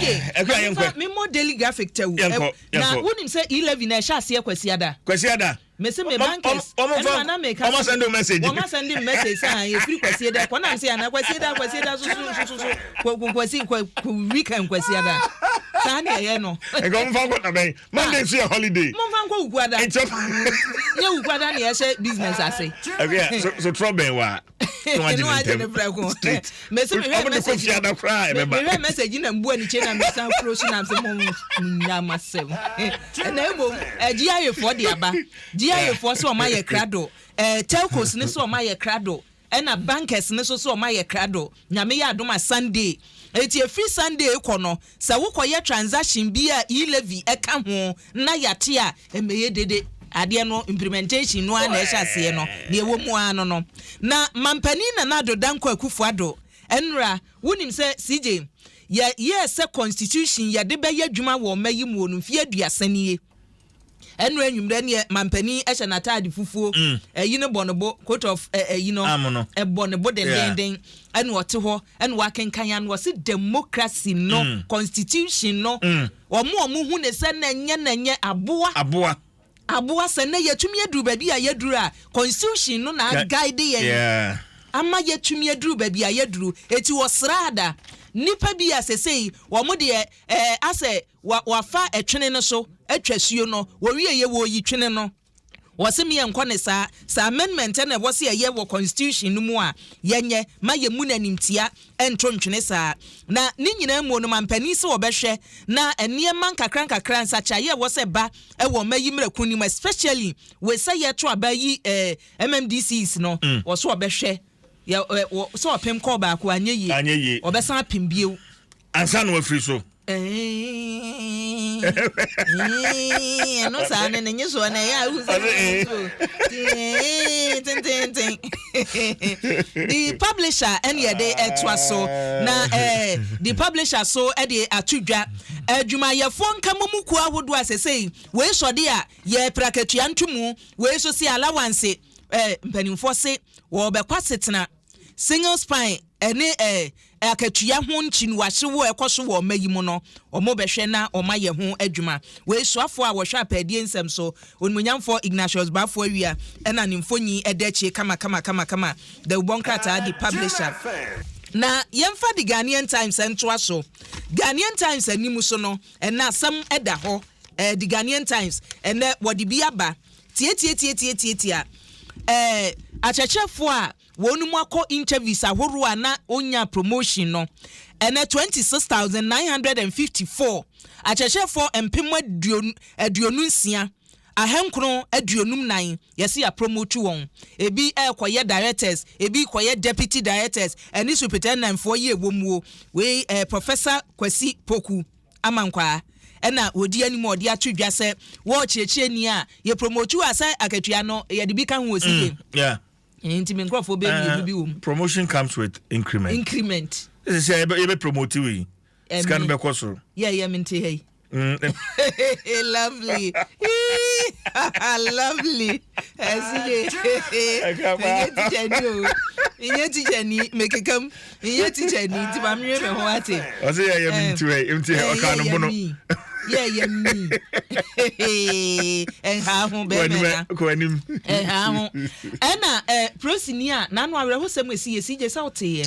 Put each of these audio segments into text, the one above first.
Okay, Ɛkɔ a yɛnkɔ. Me mo daily graphic tɛw. Yɛnkɔ, yɛnkɔ. Na wo nim sɛ eleven na ɛhyɛ aseɛ kwasiada. Kwasiada. Mese me bankers. Wɔn fa na meka. Wɔn asɛn de message. Wɔn asɛn de message sɛ ahan efiri kwasiada kɔ nam se ana kwasiada kwasiada soso soso so kɔ kwasi kɔ kɔ weekend kwasiada. Saa ne ɛyɛ no. Nka wɔn fa nkɔ nabɛn. Monday nso yɛ holiday. Wɔn fa nkɔ wukuada. Nkyɛn. Nye wukuada ne ɛhyɛ business ase. Ɛbi a so so trɔ bɛn wa. na wagye ne ntɛm straight ɔmo de kɔ fie ada koraa ɛbɛba mehwɛ message na mbua ne kyɛn na mesan kuro so na mfe mo nya ma sɛm ɛna mmom ɛgye ayefoɔ de aba gye ayefoɔ sɛ ɔma yɛ krado ɛɛ telcos ne sɛ ɔma yɛ krado ɛna bankers ne so sɛ ɔma yɛ krado Nyame yɛ adom a Sunday. Enti ɛfiri Sunday rekɔ no, sɛ wo kɔyɛ transaction bi a e-levy ka ho na yɛate a, ɛmmɛyɛ dede. Adeɛ no implementation no ara na ɛhyɛ aseɛ no, deɛ ɛwɔ mu ara no no. Na Mampanin Nana Addo Dankwa Akufo Addo, Nnora, wonim sɛ CJ, yɛ yɛɛ sɛ constitution yɛde bɛyɛ adwuma wɔ mma yi muo no mfeɛ aduasa nie. Ɛnora anwummerɛ neɛ mampanin hyɛ n'ataade fufuo mm. ɛyi no bɔ ne bo coat of ɛyi no ɛbɔ ne bo dendenden ɛna ɔte hɔ ɛna wakenkan ano ɔse democracy no mm. constitution no mm. ɔmo ɔmo hu ne sɛ na ɛnyɛ na ɛnyɛ aboa aboa aboa sɛ na yɛtumi aduru baabi a yɛduru a constitution no na aguide yɛn ama yɛtumi aduru baabi a yɛduru eti ɔsraada nipa bi a sɛsɛyi wɔn deɛ ɛɛ asɛ Wɔ wɔafa ɛtwene no so atwa asuo no wɔwieɛ wɔreyi twene no wɔse me yɛnkɔ ne saa saa amendment na ɛwɔ se ɛyɛ wɔ constitution no mu a yɛnyɛ ma yɛmu no animtia ɛnto ntwene saa na ne nyinaa muo no mampanin se wɔbɛhwɛ na nneɛma nkakra nkakra nsakyeaeɛ ɛwɔ sɛ ɛba ɛwɔ ɔma yi mmerɛko no mu especially wei sɛ yɛto aba yi eh, mmdcs no mm. wɔ so wɔbɛhwɛ yɛ, eh, wɔ, sɛ ɔpem kɔɔ baako anyɛ yie wɔbɛsan apem bio ansa na wafiri so. ɛno saa ne ne nye soɔ na ɛyɛ a wohu sɛ tententen the publisher ɛne yɛde ɛtoa so na eh, the publisher so ɛde ato dwa adwumayɛfoɔ eh, nka mu kuo ahodoɔ a sɛsei wei sɔde a yɛ prakatua ntomu wei so se alawanse eh, mpanimfoɔ se wɔbɛkɔ asetena Single spine ne eh, akatua ho nkyiniwahyew a ɛkɔ so wɔ mma yi mu no, wɔbɛhwɛ na wɔayɛ ho adwuma. Wei soafoɔ a wɔhwɛ apɛɛdeɛ nsɛm so, Onimuonyamfoɔ Ignatius Baffour Awia na ne mfoni da akyire kamakamakamakama. Dawubɔ nkrataa de publisher. Na yɛmfa The Ghanaian Times ntoa so. Ghanaian Times anim so no, ɛnnɛ asɛm da hɔ. Eh, The Ghanaian Times, ɛnnɛ wɔde bi aba. Tiatiatiatiatiatia eh, akyerɛkyerɛfoɔ a wɔnom akɔ interviews ahoroɔ a na ɔnya promotion no, ɛnɛ 26954 akyerɛkyerɛfoɔ mpem aduonu aduonu nsia ahankron aduonum nan yɛse yɛapromote wɔn. Ebi ɛrekɔyɛ directors, ebi rekɔyɛ deputy directors ɛne superintendentfoɔ yi ɛwɔ muo. Wei ɛyɛ Professor Kwasi Poku. ama nkwaa na wɔdi anim a wɔde ato dwa sɛ wɔɔ kyerɛkyerɛni a yɛpromotu a sɛ akatua no yɛde bi ka ho wɔ si game. Mm, yeah. Nti me nkurɔfoɔ bɛ mmienu eh, bi wɔ mu. Promotion comes with increment. Increment. Ɛsɛ sɛ yɛbɛ promote wei. Eh, Sika no bɛkɔ soro. Yɛ yɛ me nte ha yi. Mm. Lovely. Lovely. ɛsi de menyɛ tikya ni o menyɛ tikya ni mekeka mu menyɛ tikya ni nti ma mewɛ me ho ate ɔsɛ yɛ yɛ mi nti wɛ nti ɔka no bono yɛ yɛ mi ɛha ho bɛmɛ na kɔ anim ɛha ho ɛna ɛ prosini a n'ano awerɛhosɛm esi yɛ si gye sɛ ɔte yɛ.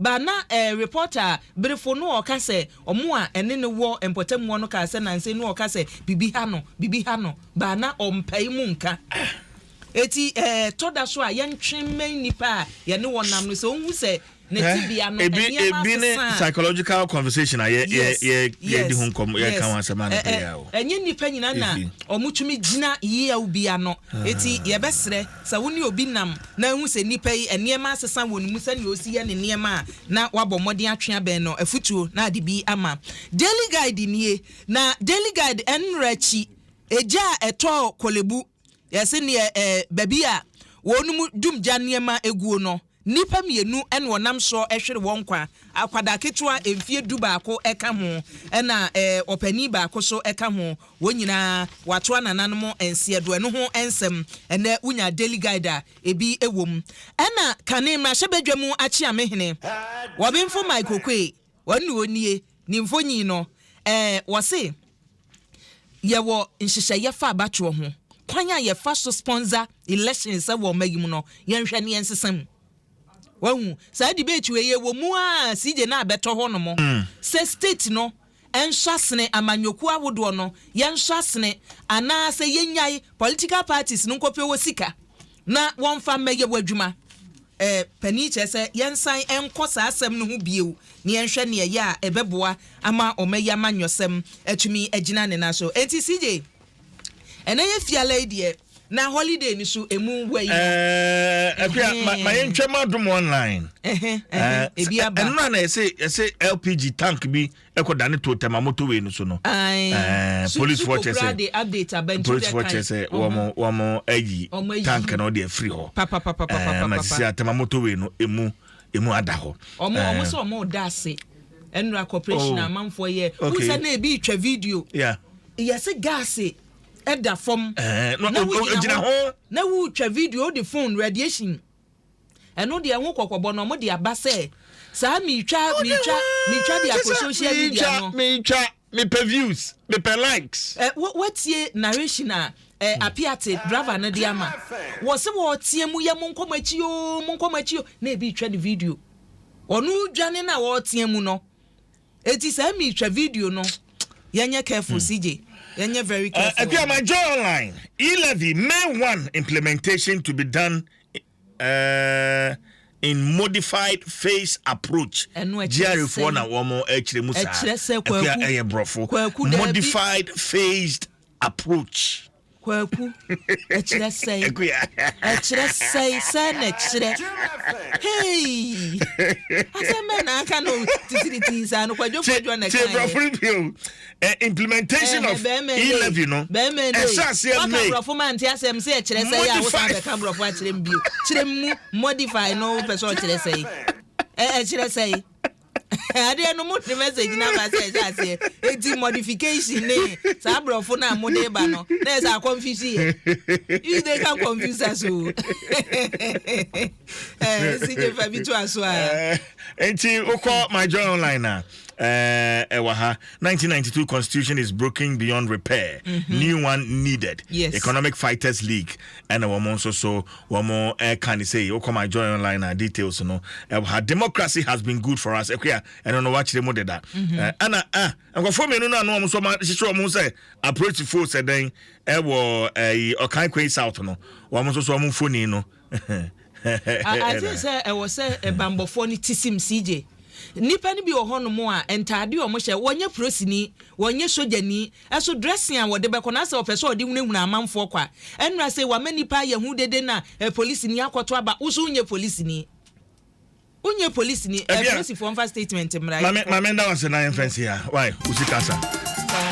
Ba na eh reporter a berefo no ɔka sɛ ɔmo a ɛne no wɔ mpɔtam hɔ no kaa sɛ nanse no ɔka sɛ biribi ha no biribi ha no ba na ɔmpae mu nka ah eti eh tɔ da so a yɛntwe mmɛn nnipa a yɛne wɔn nam no sɛ ɔnhu sɛ ne Eh tebea no ebi nneɛma ebi ne asesa a psychological conversation a yɛ yɛ yes yɛ yɛdi yes ho nkɔm yɛka yes ho asɛm eh anɔpa eh yi a o ɛnyɛ nnipa nyinaa na efi ɔmo tumi gyina yeaw bi ano eti ah yɛbɛsrɛ Sɛ wo ne obi nam na ahu sɛ nnipa yi, nneɛma asesa wɔn mu, sɛnea ɔsi yɛ ne nneɛma a, na wabɔ mmɔden atwe abɛn no. Afotuo na ade bi ama. Daily Guide nie, na Daily Guide ɛnmmerɛ akyi, egya a ɛtɔɔ Korle Bu, yɛse neɛ ɛɛ baabi a wɔnom dum gya nneɛma guo no, Nnipa mmienu na wɔnam soɔ hwere wɔn nkwa, akwadaa ketewa mfeɛ du baako ka ho, ɛna ɔpanin baako nso ka ho. Wɔn nyinaa wɔato anananom nseɛdoɔ. Ɛno ho nsɛm, ɛnnɛ wonya Daily Guide a, ebi wɔ mu. Ɛna kane mmarahyɛbadwa mu akyeamehene, Wɔbenfo Mike Oquaye, Wɔn na wɔnnie ne mfonyin no. Ɛɛ, wɔse yɛwɔ nhyehyɛeɛ fa abatoɔ ho. Kwan a yɛfa so sponsor elections wɔ ɔma yi mu no, yɛnhwɛ ne yɛnsesa mu. Wahu, saa debate wei ɛwɔ mu a CJ no a bɛtɔ hɔ nom. Sɛ state no nhwɛ asene amanyɔkuo ahodoɔ no, yɛnhwɛ asene anaasɛ yɛnyae political parties no nkɔpɛ wɔ sika. Na wɔmfa mmɛyɛ w'adwuma. Eh, panin kyerɛ sɛ yɛnsan nkɔ saa asɛm no ho bio na yɛnhwɛ nea ɛyɛ a ɛbɛboa ama ɔma yi amanyɔsɛm atumi agyina ne nan so. Enti CJ, ɛnnɛ yɛ fiala yi deɛ, na holiday no so ɛmu wɔ yi. Eh, Akua, ma, ma yɛntwam adom online. Eh, eh, ebi aba. Ɛno na na yɛse, yɛse LPG tank bi ɛkɔ dane too tɛma motor way no so no ɛɛ police foɔ kyɛ sɛ police foɔ kyɛ sɛ wɔn wɔn ayi tank no de afiri hɔ ɛɛ ma sisi atɛma motor way no emu emu ada hɔ ɛɛ wɔn sɛ wɔn da ase ɛnura corporation oh. amanfoɔ yɛ wɔn sɛ na ebi twɛ video yɛsi gaase ɛda fam na wogyina ho na wotwa video de phone radiation. Ɛno deɛ ɛho kɔkɔbɔ na wɔde aba sɛ saa metwa metwa metwa de akɔ social media no. Metwa mepɛ views mepɛ likes. Ɛ wɔ wɔtie narration a ɛ hmm. apiate driver no de ama wɔ sɛ wɔteɛ mu yɛ mo nkɔm akyi yoo mo nkɔm akyi yoo na ebi twa ne video ɔno dwane na wɔteɛ mu no. Eti sɛ mi twɛ video no yɛ nyɛ careful hmm. CJ yɛ nyɛ very uh, careful. Ɛdi ama joy online e-levy May one implementation to be done uh, in modified phase approach. Ɛnu ɛkyerɛ sɛ GRFO na wɔn ɛkyerɛ mu saa. Ɛkyerɛ sɛ kwaku ɛyɛ brɔfo modified phased approach. Kwaku, ɛkyerɛ sɛe? Akuya. Ɛkyerɛ sɛe? Sɛe na ɛkyerɛ? Heii! Asɛm bɛn na aka no titiritii saa no, kwadwofoɔ dwoɔ na ɛkaeɛ. Tie brɔfo no bio. Eh, implementation of E-levy no, ɛhyɛ aseɛ May. Waka brɔfo ma nte asɛm sɛ ɛkyerɛ sɛe a wosan bɛka brɔfo akyerɛ me bio. Kyerɛ mu, modify no wopɛ sɛ ɔkyerɛ sɛe? Ɛkyerɛ sɛe? Adeɛ no mo de message na ba sɛ ɛhyɛ aseɛ eti modification ne saa aborɔfo no a mo de ba no na ɛsɛ akɔnfisi yɛ you they can confuse us o ɛɛ si gye fa bi to aso a. nti wokɔ my joy online na. ɛwɔ eh, eh, ha 1992 constitution is broken beyond repair mm -hmm. new one needed yes. economic fighters league ɛna wɔn nso so Wɔn ɛka ne sei wokɔ my joy online a details no ɛwɔ ha democracy has been good for us ɛkua ɛno no wakyerɛ mu deda ɛna a nkɔfoɔ mmienu no ano wɔn nso hyehyɛ wɔn ho sɛ apolisifoɔ sɛ dɛn ɛwɔ ɛyi ɔkan kwei south no wɔn nso so wɔn mfoni no ase sɛ ɛwɔ sɛ ɛbanbɔfoɔ no ti sim CJ nipa no bi wɔ hɔnom a ntaade wɔn hyɛ wɔnyɛ prosini wɔnyɛ sogyani So dressing a wɔde bɛkɔ na sɛ ɔpɛ sɛ ɔde hunahuna amanfoɔ kɔ a, ɛnora sei wama nnipa ayɛ hu dede na polisini akɔto aba, wo so wonyɛ polisini? Wonyɛ polisini, polisifoɔ mfa statement mmra yɛnkɔ. Mame mame nda wase na yɛmfa nsi ya, why? Wo sika sa.